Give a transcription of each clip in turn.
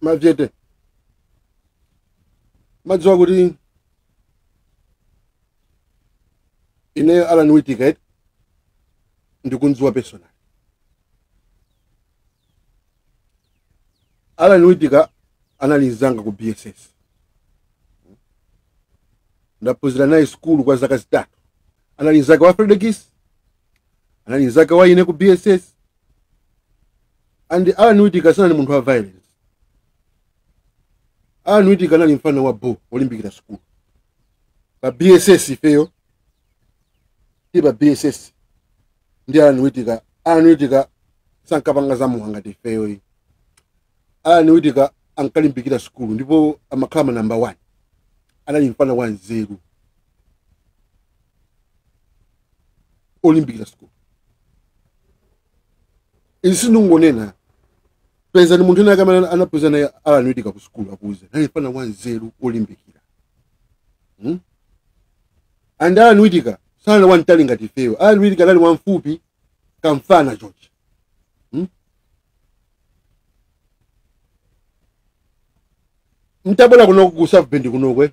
machete madziwa kuti ineyo alan witika ndikumdziwa personal alan witika anali mzanga ku bss ndaphunzira naye sukulu kwa zaka zitatu anali mzake wa fredokiss anali mzake wa ine ku bss and alan witika sanali munthu wa violence alan witika anali mfana wa bo olimbikira sukulu pa bss ifeyo ti pa bss ndi alan witika alan witika sankapanga zamowa ngati ifeyo ayi alan witika ankalimbikira sukulu ndipo amakhala ma namba 1 anali mfana wa nzeru olimbikira sukulu izi sindingonena pezani munthu wina wake amene anaphunzira naye alan witika ku sukulu akuuze anali mfana wanzeru olimbikira hmm? and alan witika sanali wamtali ngati ifeyo alan witika anali wamfupi kamfana chochi hmm? nditabwera kunoko ku south bend kunokwe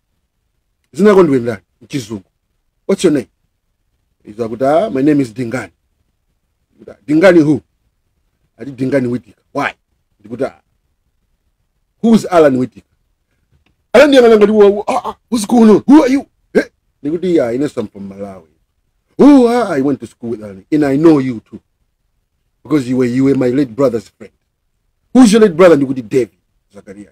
dzina lako ndiwe ndani mchizungu what's your name izo akuti ah, my name is dingani Ndikuti, "Ah, dingani who ati dingani witika why ndikuti "Ah, who's alan witika alan andiyang'ana ngati wa- wa- ah, ah, what's going on who are you Eh, ndikuti yeah, inenso I'm from malawi oh ah, i went to school with alan and i know you too because you were, you were my late brother's friend who's your late brother ndikuti david zakaria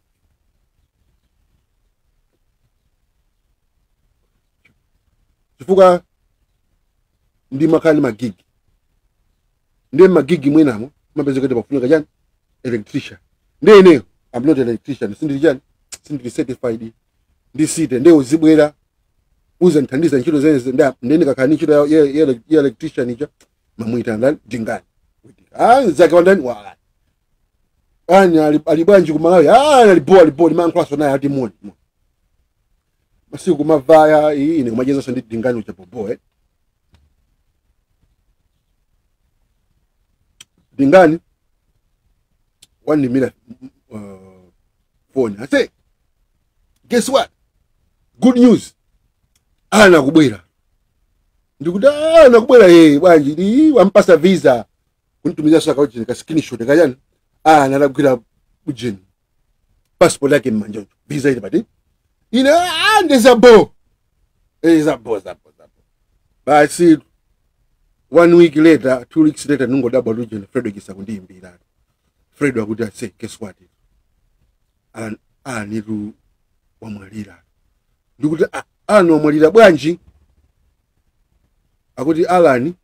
chifukwa ndimakhala ndi magigi ndiye magigi mwinamo mapezeka kuti pafunika chani electrician ndiye ineyo i'm not an electrician sindili chani sindili certified ndi site ndiye uzibwera uzandithandiza ntchito zimenezi ndiye ine ndikakhala ndi ntchito ya- ya ya- ya electrician ija ndimamuyitana dingani ah mzake wa ndani wa alan ali ali bwanji ku malawi ah ali bo ali bo ndimalankhulaso naye ati moni moni. masiku kumavaya ayi ine kumachezanso ndi dingani uja bobo eh dingani wandiimbira uh, phone aise guess what good news alan akubwera ndikuti alan akubwera ye bwanji ndi wampatsa visa kunditumizira so ka ujeni ka screenshot kachani alani atagwira ujeni passport yake mmanja ucho visa ili pati ine ah nde za bo eh za bo za bo za bo basi one week later two weeks later ndingodabwa ujeni Fredokiss akundiimbira Fredo akuti ase guess what an aniru wamwalira ndikuti "Ah, alani wamwalira bwanji akuti alani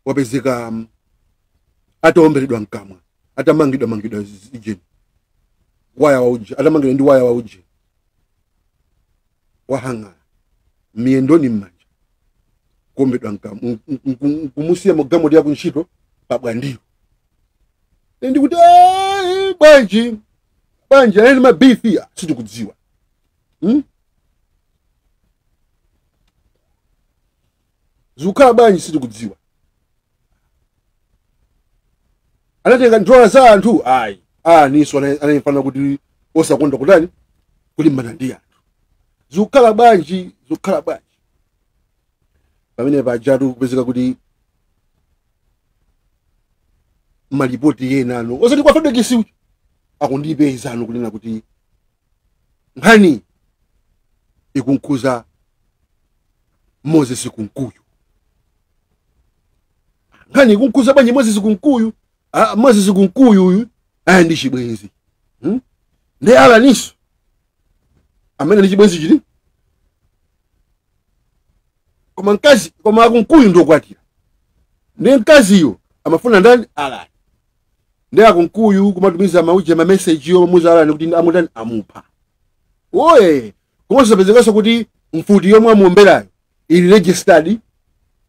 wapezeka um, ataomberedwa mkamwa atamangidwa mangidwa ujeni waya wa uje atamangidwa ndi waya wa uje wa hang'ala miyendoni mmanja kuombedwa mkamwa m- m- m- kumusiya mugalimoto ya kuntchito pabwandiro Ine ndikuti "Ah, bwanji bwanji anali mabifi sitikudziwa Hmm? zikukhala bwanji sitikudziwa anatenga ndola za anthu ayi alaninso anali mfana kuti osakonda kutani kulimbana ndi anthu zikukhala bwanji zikukhala bwanji pamene pajatu kupezeka kuti malipoti enano osati kwa fredokiss akundipeza ano kunena kuti nkhani ikumkhudza moses kunkuyu nkhani ikumkhudza bwanji moses kunkuyu ah, moses kunkuyu uyu ali ndi chibwenzi hmm? nde alaninso amene ndi chibwenzi chili koma mkazi koma akunkuyu ndi okwatira nde mkaziyo amafuna ndani alani nde akunkuyu kumatumiza mauje mameseji omamuuza alani kuti amutani amupha oye komanso zapezekanso kuti mfuti yomwe amuomberayo ili registered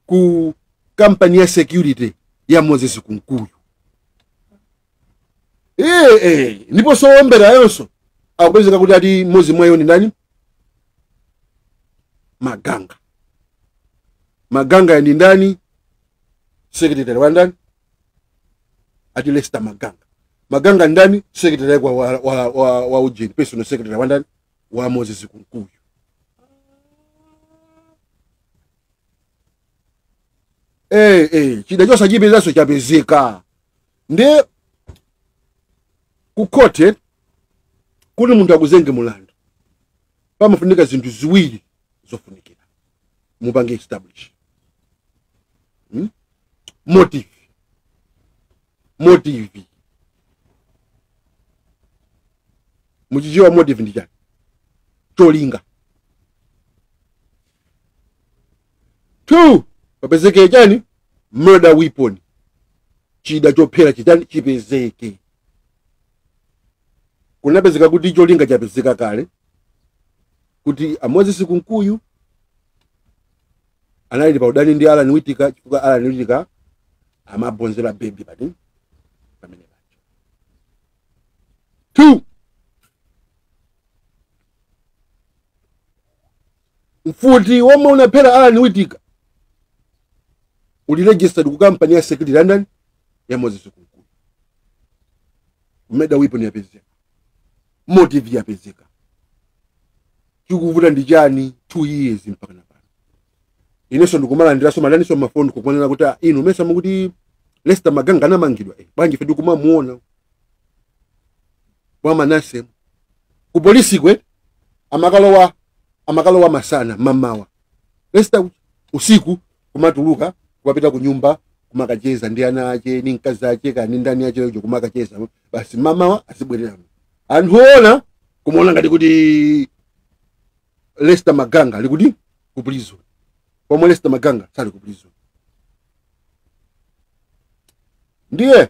ku kampani ya security ya moses kunkuyu ee ee ndiposo oomberayoso akupezeka kuti ati mmodzi mwa iwo ndi ndani maganga maganga ndi ndani secretary wa ndani ati Lester Maganga Maganga ndani secretary kwa wa, wa, wa, wa ujeni personal secretary wa ndani wa Moses Kunkuyu eh eh chida chose chipezaso chapezeka nde kukote kuti munthu akuzenge mulandu pamafunika zinthu ziwiri zofunikira mupange establish hmm? motive motive muchichewa motive ndi chani cholinga two papezeke chani murder weapon chida chophera chitani chipezeke kunapezeka kuti cholinga chapezeka kale kuti a Moses Kunkuyu anali pa udani ndi Alan Witika chifukwa Alan Witika amabonzera baby pati pamene pacho. Two. Mfuti womwe unaphera Alan Witika uli registered ku kampani ya Security London ya Moses Kunkuyu. Murder weapon yapezeka. motive yapezeka chikuvuta ndi chani two years mpaka napano inenso ndikumalandiranso madandaulo mafoni kumanena kuti "Ah, inu mesa mukuti Lester Maganga anamangidwa eh, bwanji fe ndikumamuona kwa Manase ku polisi uko amakalowa masana mamawa Lester usiku kumatuluka kumapita ku nyumba kumakacheza ndi ana ache ni mkazi ache kani ndani ache ujo kumakacheza basi mamawa azibwerera anthu ona kumaona ngati kuti Lester Maganga ali kuti ku prison pomwe Lester Maganga sali ku prison ndiye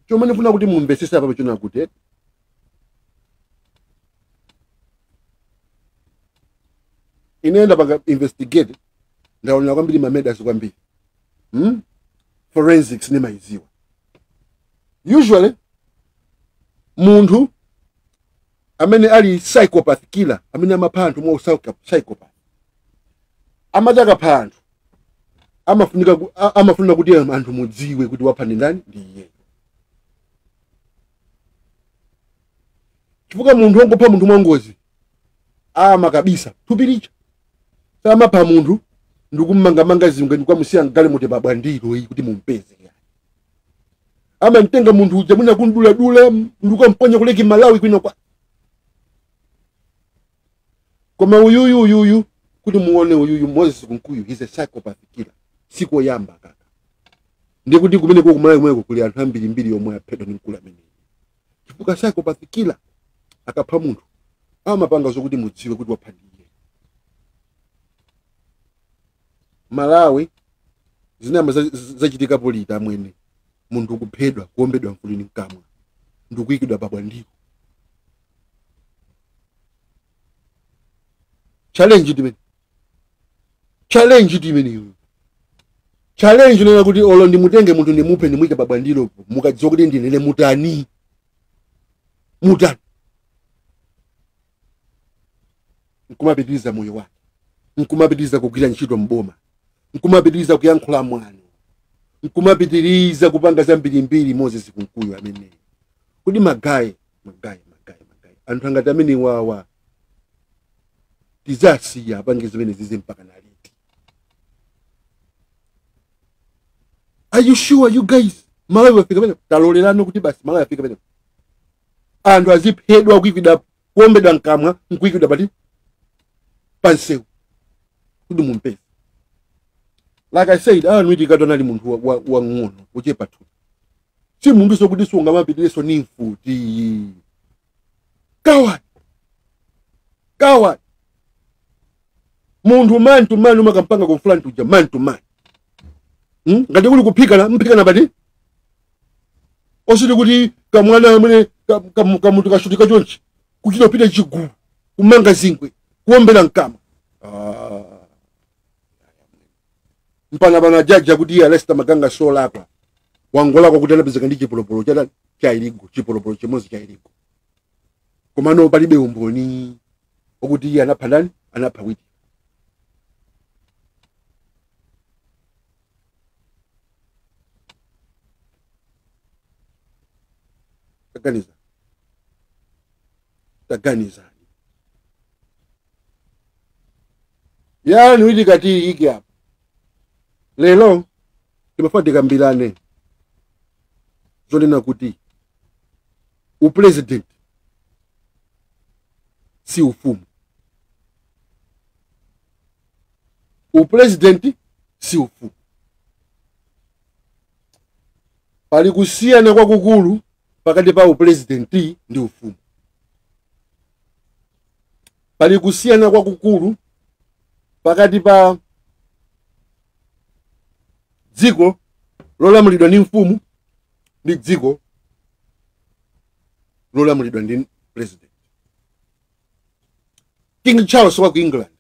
chomwe ndifuna kuti mumvesese apa nchonena kuti ine ndapanga investigate ndaonera kwambiri ma murders kwambiri hmm? forensics ndimayidziwa usually munthu amene ali psychopath killer amene amapha anthu mwa psycho- psychopath amati akapha anthu amafunika ku- a- amafunika kuti anthu mudziwe kuti wapha ndi ndani ndi iyeyo chifukwa munthu wongopha munthu mwangozi amakabisa thupi lija samapha munthu ndikummangamanga zingwe ndikukamusiya mgalimoto pa Bwandiro iyi kuti mumpeze amamtenga munthu uja mwina kumduladula ndikukamponya ku Lake Malawi kwinakwake koma uyuyu uyuyu kuti muone uyuyu Moses Kunkuyu he's a psychopath killer sikoyamba aka ndiye kuti kumene ku Malawi kumeneko kuli anthu ambirimbiri omwe aphedwa ndi mkulu ameneyi chifukwa psychopath killer akapha munthu amapanga zokuti mudziwe kuti wapha ndi iye Malawi zinayamba za- za- zachitikapo liti amwene munthu kuphedwa kuombedwa mfuti mkamwa ndikuyikidwa pa Bwandiro challenge ndimene challenge ndimeneyo challenge yonena kuti olo ndimutenge munthu ndimuphe ndimuyike pa Bwandiro mukadziwa kuti ndine mutani mutani nkumapitiriza moyo wake nkumapitiriza kugwira ntchito mboma nkumapitiriza kuyankhula mwano nkumapitiriza kupanga zambirimbiri Moses Kunkuyu ameneyo kodi magayi magayi magayi magayi anthu angati amenewawa tizasiya apange zimenezizi mpaka na liti are you sure you guys malawi wafika penepa talolerana kuti basi malawi wafika penepa anthu aziphedwa kuikidwa kuombedwa mkamwa nkuikidwa pati pansewu kuti mumpeze like i said Allan Witikatu anali munthu wang'ono wa, wa, wochepa thupi si munthuso okuti sungamapitireso ni mfuti coward coward munthu man to man umakampanga confront uja man to man hmm? ngati kuli kuphikana mphikana pati osati kuti kamwana amene ka- kamu- kamunthu kashutika chonchi kuchita kupita chigulu kumanga zingwe kuombera mkamwa Ah. mpaka pano a jaji akuti iye a Lester Maganga solakwa wangolakwa kuti anapezeka ndi chipolopolo chata cha illegal chipolopolo chimodzi cha illegal komano palibe umboni okuti iye anapha ndani anapha Witika taganiza taganizani ya Allan Witika tiike apa lero timafuna tikambirane zonena kuti upresident si ufumu upresident si ufumu pali kusiyana kwakukulu pakati pa upresident ndi ufumu Pali kusiyana kwakukulu pakati pa dziko lolamulidwa ndi mfumu ndi dziko lolamulidwa ndi president. King Charles wa ku England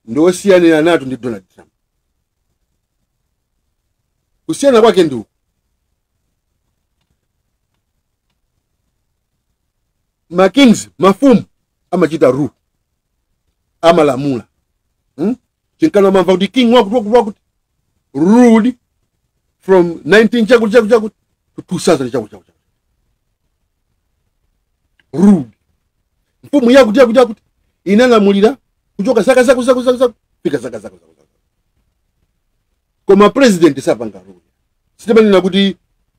ndi wosiyaniranatu ndi Donald Trump. Kusiyana kwake ndi uku. ma kings mafumu amachita rule amalamula hmm? chinkana mumamva kuti king wakuti wakuti wakuti ruled from 19 chakuti chakuti chakuti to 2000 chakuti chakuti ruled mfumu yakuti yakuti yakuti inalamulira kuchoka zaka zakuti zakuti zakuti zakuti kufika zaka zakuti zakuti zakuti koma president sapanga rule sitimanena kuti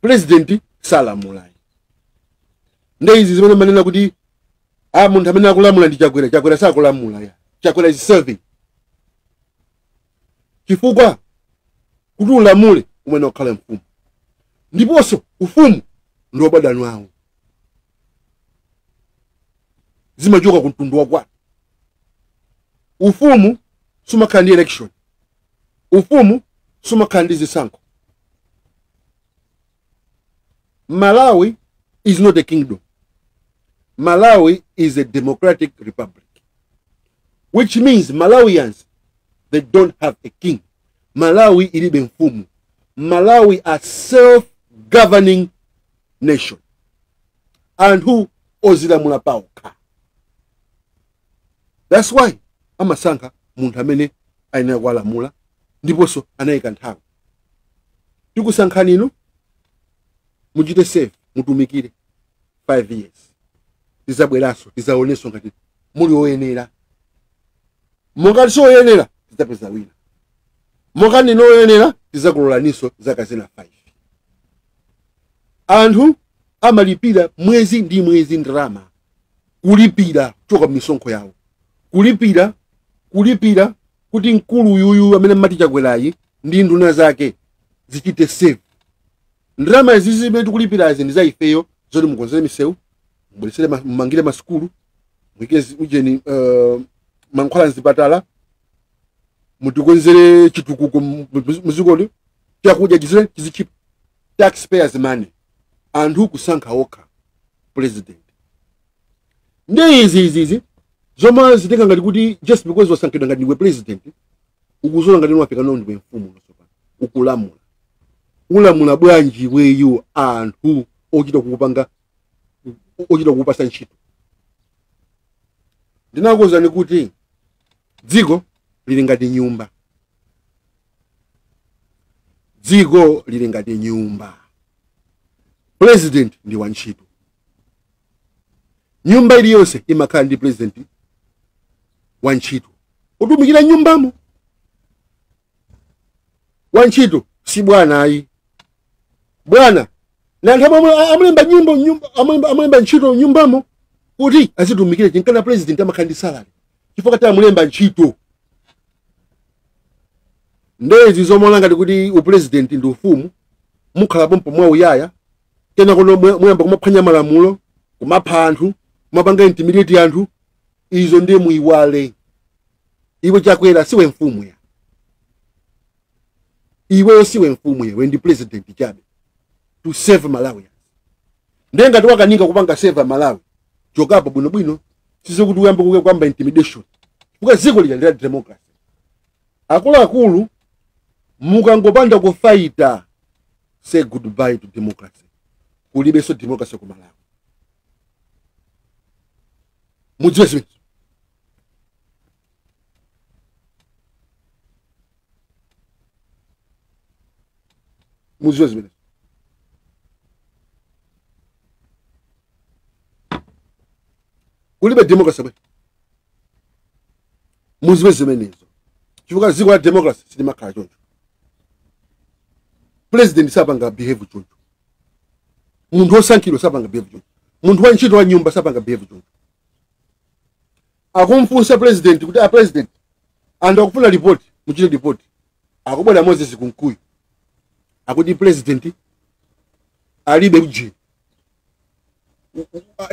pulezidenti salamula ayi nde izi zimene manena kuti ah munthu amene akulamula ndi chakwera chakwera sakulamula ya chakwera is serving chifukwa kuti ulamule umene ukhala mfumu ndiponso ufumu ndi wabadani wawo zimachoka ku mtundu wakwanu ufumu sumakhala ndi election Ufumu sumakhala ndi zisankho. Malawi is not a kingdom. Malawi is a democratic republic, which means Malawians, they don't have a king. Malawi ilibe mfumu. Malawi a self-governing nation. Anthu odzilamula paokha. thats why amasankha munthu amene ayenera kuwalamula ndiponso anayika nthawi tikusankhani inu muchite serve mutumikire 5 years tidzabweranso tidzaonenso ngati muli oyenera mongati si oyenera tidzapeza wina mongati ndinu oyenera tidzakulolaninso zaka zina 5 anthu amalipira mwezi ndi mwezi ndalama kulipira kuchoka mmisonkho yawo kulipira kulipira kuti mkulu uyuyu amene mmati chakwerayi ndi nduna zake zichite serve ndalama izi zimene tikulipirazi ndi za ifeyo zoti mukonzere misewu mubweretsere ma- mumangire masukulu muike zi- ujeni uh, mankhwala mzipatala mutikonzere chitukuko mu- mu- mudzikoli chakudya chizi- chizichipa taxpayers money anthu kusankha okha president ndi izi izi izi zomadzitenga ngati kuti just because wasankhidwa ngati ndiwe president ukudziona ngati wafika now ndiwe mfumu tsopano ukulamula ulamula bwanji iweyo anthu ochita kukupanga ochita kukupasa ntchito ndinakuwuzani kuti dziko lili ngati nyumba dziko lili ngati nyumba president ndi wantchito nyumba iliyonse imakhala ndi president wantchito otumikira mnyumbamo wantchito si bwana ayi bwana ndi anthu amwe- amulemba nyimbo nyumba- amulemba amulemba ntchito mnyumbamo kuti azitumikire chinkana president amakhala ndi salary chifukwa tamulemba ntchito nde izi zomaona ngati kuti upresident ndi ufumu mukhala pompo mwamuyaya kenako no mwe- muyamba kumaphwanya malamulo kumapha anthu kumapanga intimidate anthu izo ndiye muiwale iwe chakwera siwe mfumu ya iweyo siwe mfumu iwe ndi president chabe to serve malawians ndiye ngati wakanika kupanga serve amalawi chokapo bwinobwino sizokuti uyambe kuke kuyamba intimidation chifukwa dziko lija ndila democracy akuluakulu mukangopanda kufaita say goodbye to democracy kulibenso democracy ku malawi mudziwe zimenezo muziwe zimenezo kulibe democracy bwe muziwe zimenezo chifukwa dziko la democracy silimakhala choncho president sapanga behave choncho munthu wosankhidwa sapanga behave choncho munthu wa ntchito wa m'nyumba sapanga behave choncho akumfunsa president kuti a president anthu akufuna report muchite report akubwera moses kunkuyu akuti president alibe ujeni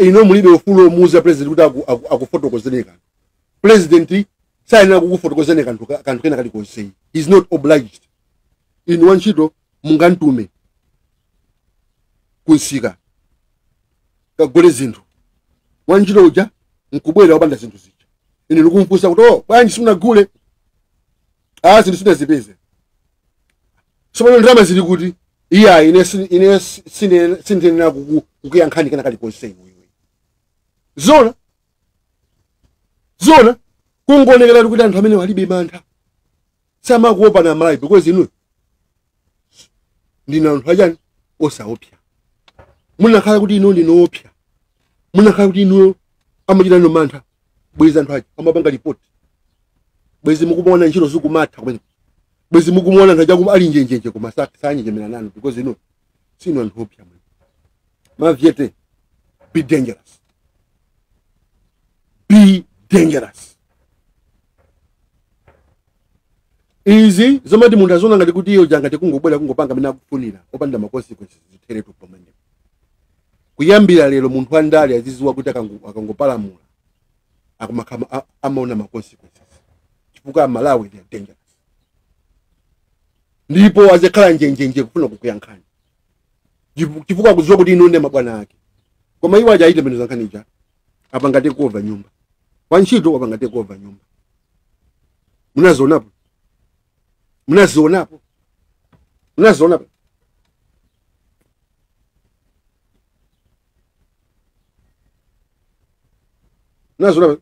inu mulibe ufulu omuuza president kuti aku- aku- akufotokozeni kanthu president sayenera kukufotokozerani kanthu ka- kanthu kena kalikonse he is not obliged inu wantchito mungantume kumsika kagule zinthu wantchito uja nkubwera opanda zinthu zija ine ndikumfunsa kuti oh bwanji simunagule ah zinthu sindinazipeze tsopano ndalama zili kuti iyayi ine sin- ine si- sine- sindiyenera kuku- kukuyankhani kena kalikonse iwe iwe zona zona kungoonekera kuti anthu amene alibe mantha samakuopani amalawi because inu ndinu anthu achani osaopsa mukanakhala kuti inu ndinu oopsa mukanakhala kuti inu amachita nanu mantha bwezi anthu aja amapanga report bwezi mukumaona ntchito zikumatha bwezi mukumaona anthu aja ali njenjenje koma sanjenjemera nanu because inu sinu anthu oopsa mwe mavyete be dangerous be dangerous izi zomati munthu aziona ngati kuti iye angathe kungobwera kungopanga mmene akufunira opanda ma consequences zitheretu pomwe kuyambira lero munthu wandale aziziwa kuti akango- akangopalamula akumakhala a- amaona ma consequences chifukwa amalawi they are dangerous ndipo azikhala njenjenje kufuna kukuyankhani chifu- chifukwa akudziwa kuti inu ndi mabwana ake koma iwo aja ayi tembenu za nkhani ija wapanga take over nyumba wantchito wapanga take over nyumba munazionapo munazionapo munazionapo munazionapo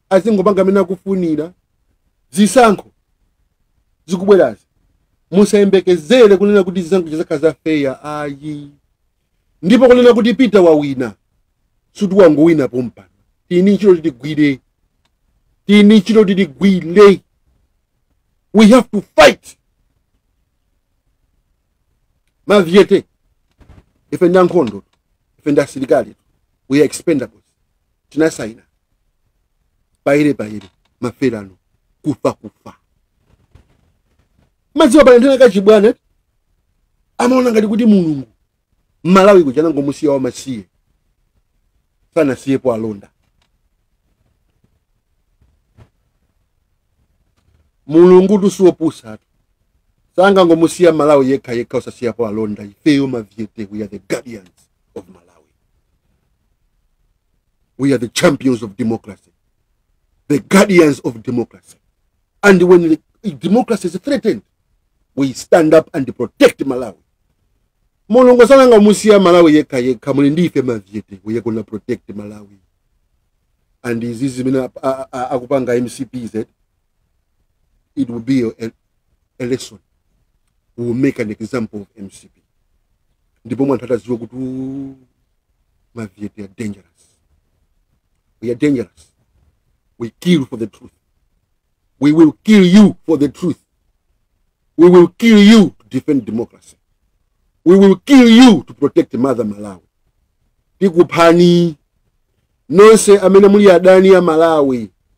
azingopanga mmene akufunira zisankho zikubwerazi musayembekezere kunena kuti zisankho zizakhala za fair ayi ndipo kunena kuti peter wawina sikuti wangowina pompano tili ndi ntchito yoti tigwire tili ndi ntchito yoti tigwire we have to fight maviete ife ndi ankhondo ife ndi asilikali we are expendables tinasaina bayire bayire maferano kufa kufa madziwa paliyentha na kachibwana amaona ngati kuti mulungu malawi kuja anangomusiya wamasiye sanasiyepo alonda mulungu tu si wopusa tu sangangomusiya malawi yekha yekha osasiyapo alonda ifeyo maviete we are the guardians of Malawi. We are the champions of democracy, the guardians of democracy. And when democracy is threatened, we stand up and protect Malawi. mulungu sanangomusiya malawi yekha yekha muli ndi ife maviete we are gonna protect malawi and izi zimene ap- a- a- akupanga mcp zi it will be a, a lesson we will make an example of mcp ndipo mwanthu ataziwa kuti "Ooh, mavie they are dangerous we are dangerous we kill for the truth we will kill you for the truth we will kill you to defend democracy we will kill you to protect mother malawi tikuphani nonse amene muli adani a malawi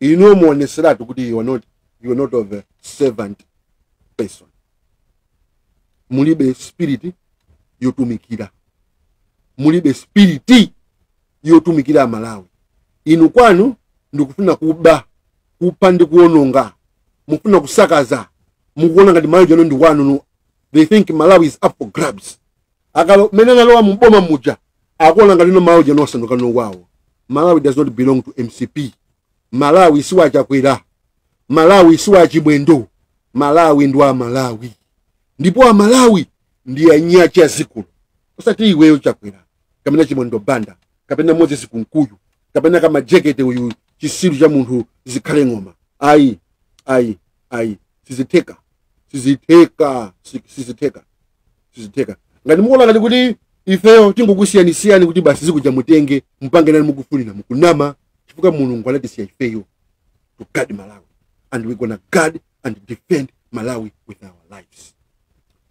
inuyo mukuonetseratu kuti you are not, you are not of a servant person mulibe spiriti yotumikira mulibe spiriti yotumikira amalawi inu kwanu ndikufuna kuba kupha ndi kuononga mukufuna kusakaza mukuona ngati malawi uja no ndi wanu they think malawi is up for grabs akakhalo mmene analowa muboma muja akuona ngati no malawi uja no wasanduka no wawo malawi does not belong to mcp malawi si wa chakwera malawi si wa chimwendo malawi ndi wa amalawi ndipo amalawi ndi eni ake a dzikoli osati iweyo chakwera kapena chimwendo banda kapena moses kunkuyu kapena ka majekete uyu chisiru cha munthu zikhale ng'oma ayi ayi ayi sizitheka sizitheka si- sizitheka sizitheka ngati mukuona ngati kuti ifeyo tingokusiyanisiyani kuti basi dziko lija mutenge mpange nalo ni mukufunira mukunama chifukwa mulungu anatisiya ifeyo to guard malawi and we gonna guard and defend malawi with our lives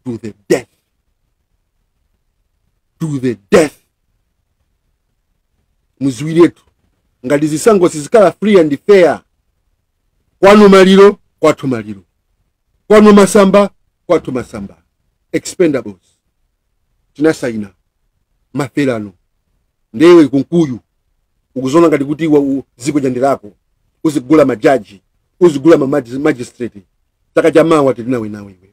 to the death to the death muziwiretu ngati zisankho sizikhala free and fair kwanu maliro kwathu maliro kwanu masamba kwathu masamba expendables tinasaina mafelano nde iwe kunkuyu ukuzona ngati kuti iwe u- dziko ndi lako uzigula majaji uzigula mamagi- magistrate chaka chamawa tili nawe nawe iwe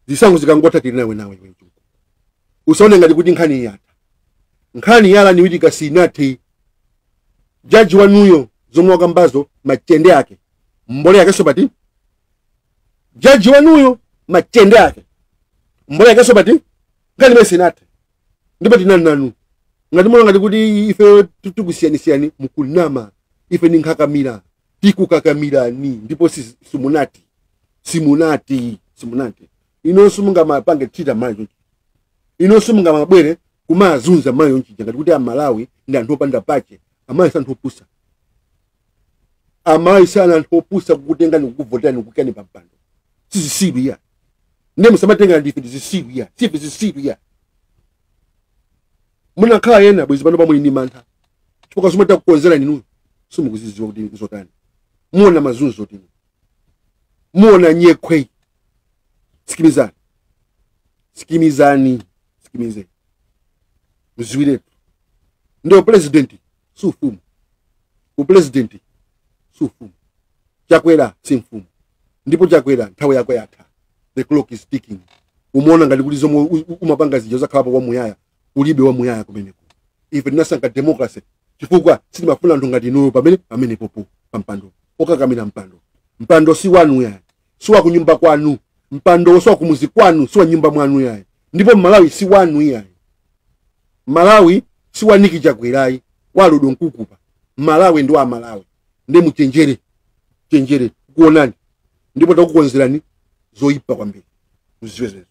zisankho zikangotha tili nawe nawe iwe mchungu usaone ngati kuti nkhani iyi yatha nkhani ya alan witika sinathe jaji wanuyo zomwe wakambazo machende ake mbole yakenso phati jaji wanuyo machende ake mbole yakenso phati nkhani imene sinathe ndipo tinani nanu ngati mwaona ngati kuti ife tikusiyani siyani mukunama ife ni nkhakamira tikukakamirani ndipo si- simunati simunati simunati inonso mungamapange treat amalawi chonchi inonso mungamabwere kumazunza amalawi chonchija ngati kuti amalawi ndi anthu opanda pake amalawi si anthu opusa amalawi si ana anthu opusa kukutengani kukuvoterani kukuikani pampando sizisiru iya ndiye musamatenga ngati ndife zisiru iya sife zisiru iya munakhala ena bwezi pano pano muli ndi mantha chifukwa zomwe takukonzerani inuyo simukuzidziwa kuti nzotani muona mazunzotu inu muona nyekhwe sikimizani sikimizani sikimizani muziwiretu nde upulezidenti si ufumu upulezidenti si ufumu chakwera si mfumu ndipo chakwera nthawi yako yatha the clock is ticking umaona ngati kuti zomwe u- u- umapanga zija uzakhalapo kwamuyaya ulibe wamuyaya kumeneko ife tinasankha democracy chifukwa sitimafuna anthu ngati inuyo pamene pamenepopo pampando okakamira mpando mpando si wanu yayi si wa kunyumba kwanu mpandowo si wa kumuzi kwanu si wa nyumba mwanu yayi ndipo malawi si wanu yayi malawi si wa niki chakwera ayi wa lodi mkukupa malawi ndi wa amalawi nde muchenjere chenjere kuonani ndipo takukonzerani zoyipa kwambiri muziziwe zimenezo